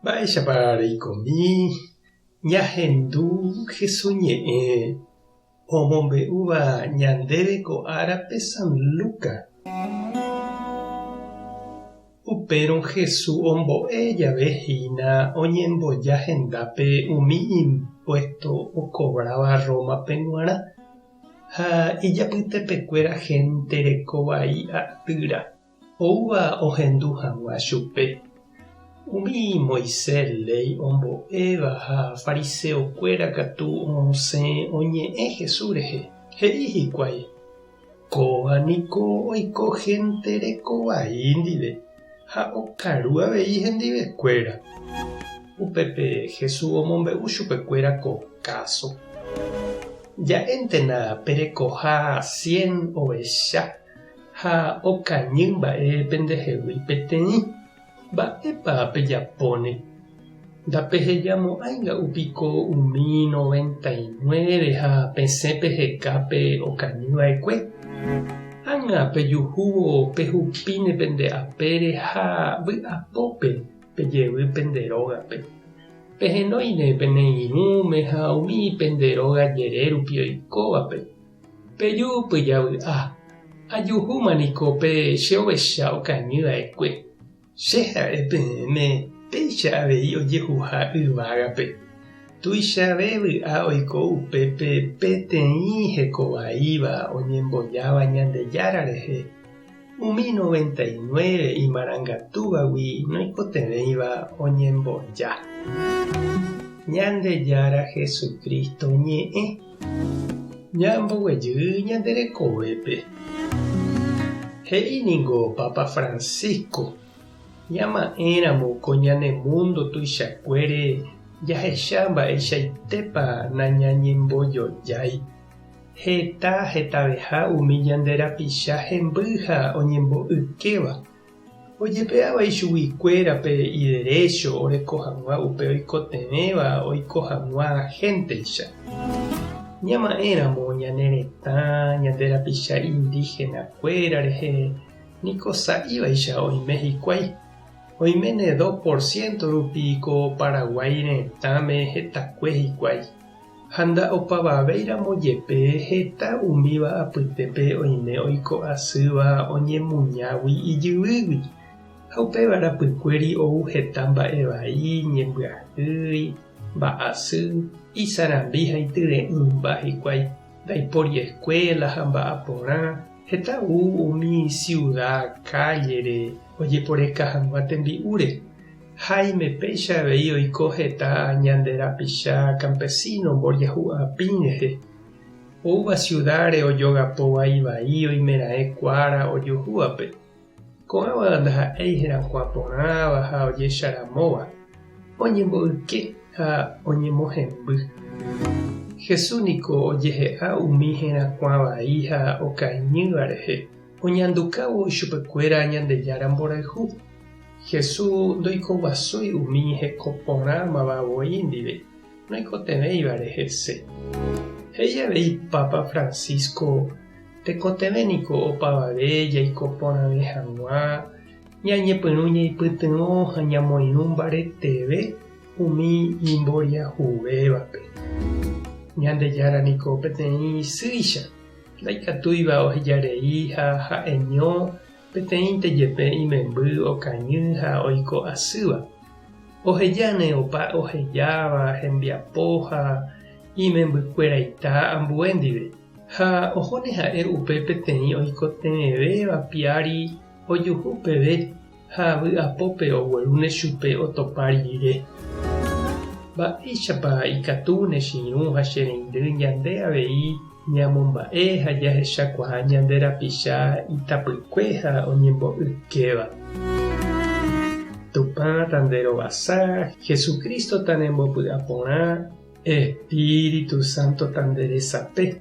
Mba'éichapa reikomi ñahendu Jesús ñe'ẽ omombe'úva ñandéve ko árape San Lucas? Upérõ Jesús ombo'e jave hína oñemboja hendápe umi impuésto okovráva Rómape g̃uarã ha ijapytepekuéra hénte reko vai atýra. oúva ohendu hag̃ua chupe. Umi Moisés léi ombo'éva ha fariseokuéra katu osẽ oñe'ẽ Jesús rehe, he'i hikuái, Kóva niko oiko hénte reko vai ndive ha okaru avei hendivekuéra. Upépe Jesús omombe'u chupekuéra ko káso, Ja'éntena pe rekoha cien ovecha. ha okañy mba'e pendehegui peteĩ, mba'épa pejapóne? Ndapehejamo'ãinga'u piko umi noventa y nueve ha pesẽ peheka pe okañyva'ekue? Ág̃a pejuhúvo pehupíne pende apére ha vy'apópe pejevy pende rógape. Pehenóine pene irũme ha umi pende róga jerérupi oikóvape. Peju pyjavy'a, ajuhúma niko pe che ovecha okañy va'ekue. Che ha'e peẽme péicha avei ojehuha yvágape. Tuichave vy'a oiko upépe peteĩ heko vaíva oñembojáva Ñandejára rehe. Umi noventa y nueve imarangatúvagui noikotevẽiva oñemboja. Ñandejára Jesucristo ñe'ẽ. Ñamboguejy ñande rekovépe. He'i ningo Papa Francisco ñama'ẽramo ko ñane mundo tuichakuére jahecha mba'eichaitépa nañañembojojái. Heta hetaveha umi ñande rapicha hemby ha oñembo'ykéva, ojepe'áva ichugui kuéra pe iderécho oreko hag̃ua upe oikotevẽva oiko hag̃ua hénteicha. Ñama'ẽ ramo ñane retã, ñande rapicha indígena kuéra rehe niko sa'ivaicha oime hikuái. Oiméne dos por ciento rupi ko Paraguái retãme hetakue hikuái. Ha nda'opavavéiramo jepe heta umíva apytépe oime oiko asýva oñemuñágui ijyvýgui, ha upéva rapykuéri ou heta mba'e vai, ñembyahýi, mba'asy, isarambi ha ityre'ỹmba hikuái, ndaipóri eskuéla ha mba'aporã, heta ou umi siuda, kállere, ojeporeka hag̃ua tembi'úre. Jaime péicha avei oiko heta ñande rapicha campesino mboryahu apĩ rehe. Oúva ciudad-re ojogapóva ivai oimeraẽ kuára ojuhúvape. Ko'ãva ndaha'éi herakuã porãva ha ojecharamóva, oñemboyke ha oñemohemby. Jesús niko ojehe'a umi herakuã vai ha okaiñýva rehe. Oñandukávo ichupekuéra Ñandejára mborayhu. Jesús ndoikoguasúi umi heko porã mava voi ndive noikotevẽivare hese. He'i avei Pápa Francisco, tekotevẽ niko opavave jaiko porãve hag̃ua ñañepyrũ ñaipytyvõ ha ñamoirũ mbareteve umi imboriahuvévape. Ñandejára niko peteĩ isýicha. Ndaikatúiva oheja rei ha ha'eño peteĩnte jepe imemby okañy ha oiko asýva. Ohejáne opa ohejáva hembiapo ha imembykueraita ambue ndive, ha ohóne ha'e upe peteĩ oikotevẽvéva piári ojuhu peve. ha vy'apópe oguerúne chupe otopa rire. Mba'éichapa ikatu ne chiru ha che reindy ñande avei ñamomba'e ha jahechakuaa ñande rapicha itapykue ha oñembo'ykéva! Tupã tanderovasa, Jesucristo tanembopy'aporã, Espíritu Santo tanderesape.